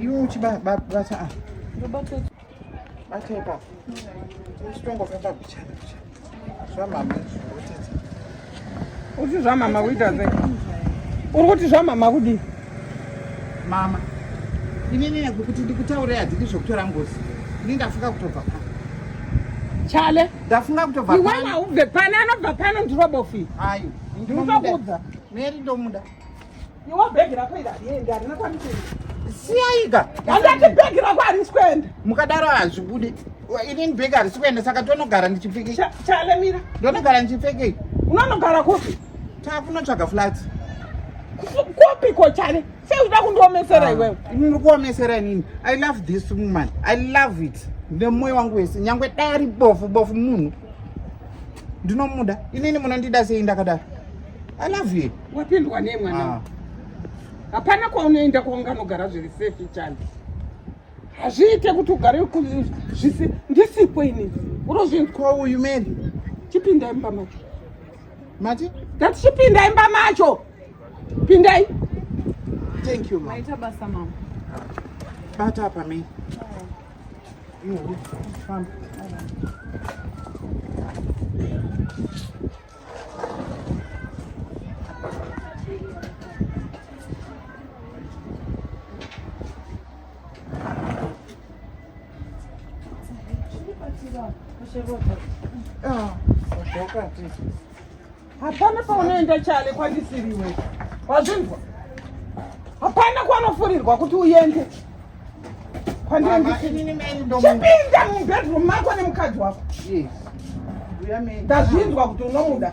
Iwe uchibata ah. Bata ipapo. Uchitongofamba bichana bichana. Zvamama zvotedza. Uti zvamama kuita sei? Uri kuti zvamama kudii? Mama. Inini yangu kuti ndikutaure hadzidi zvokutora ngozi. Ini ndafunga kutobva pano. Chale. Ndafunga kutobva pano. Iwe maubve pano anobva pano ndirobofi. Ayo. Ndinokuudza. Meri ndomuda. Iwo bag rako iri hariendi harina kwandikuenda. Siyaika. Handati bag rako harisi kuenda. Mukadaro hazvibude. Ini bag harisi kuenda saka tonogara ndichipfekei. Chale mira. Ndonogara ndichipfekei. Unonogara kupi? Takunotsvaga flats. Kupi ko chale? Sei unoda kundiomesera ah, iwewe? Ini ndikuomesera inini. I love this woman. I love it. Nemoyo wangu wese. Nyangwe dai ari bofu bofu munhu. Ndinomuda. Inini munondida sei ndakadaro? I love you. wapindwa nei mwana ah. hapana kwaunoenda kwaunganogara zviri safe chani hazviite kuti ugare zvisi ndisipo ini urozvinzwauyu meni chipinda imba macho mati ndati chipinda imba macho pindai thank you maita basa mama bata apa meni famba hapana paunoenda chale kwandisiriwe wazvinzwa hapana kwanofurirwa kuti uende chipinda mubedroom mako nemukadzi wako ndazvinzwa kuti unomuda